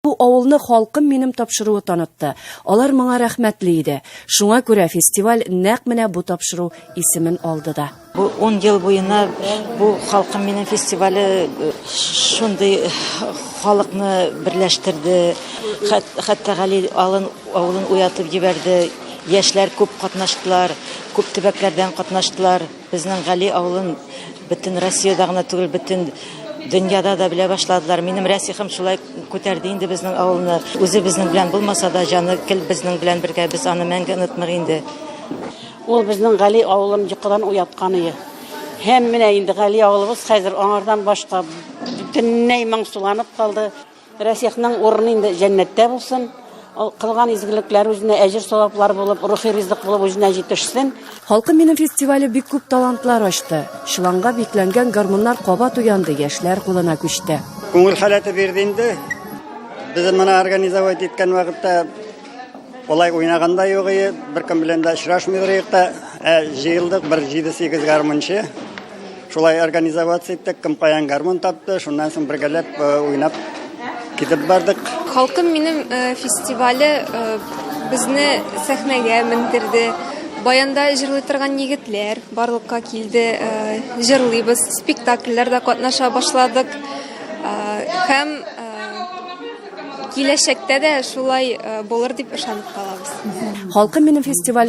Бу авылны халкым минем тапшыруы танытты. Алар моңа рәхмәтле иде. Шуңа күрә фестиваль нәкъ менә бу тапшыру исемен алды да. Бу 10 ел буена бу халкым минем фестивале э, шундый э, халыкны берләштерде. Хәтта Гали алын авылын уятып җибәрде. Яшьләр күп катнаштылар, күп төбәкләрдән катнаштылар. Безнең Гали авылын бөтен Россиядә генә түгел, бөтен дөньяда да белә башладылар. Минем Рәсихым шулай күтәрде инде безнең авылны. Үзе безнең белән булмаса да, җаны кел безнең белән бергә. Без аны мәңге онытмыйк инде. Ул безнең Гали авылын йокыдан уяткан ие. Һәм менә инде Гали авылыбыз хәзер аңардан башка бөтенләй моңсуланып калды. Рәсихның урыны инде җәннәттә булсын. Ул кылган изгелекләре үзенә әҗер саваплар булып, рухи ризык булып үзенә җитешсен. Халкым минем фестивале бик күп талантлар ачты. Чыланга бикләнгән гармуннар кабат уянды, яшьләр кулына күчте. Күңел халәте бирде инде. Без моны организовать иткән вакытта болай уйнаган да юк ие, беркем белән дә очрашмыйдыр юк та. Ә җыелдык бер 7-8 гармунчы. Шулай организовать иттек, кем каян гармун тапты, шуннан соң бергәләп э, уйнап китеп бардык. Халкым минем э, фестивале э, безне сәхнәгә мендерде. Баянда җырлый торган егетләр барлыкка килде. Җырлыйбыз, спектакльләрдә катнаша башладык. Һәм киләчәктә дә шулай булыр дип ышанып калабыз. Халкым минем фестивале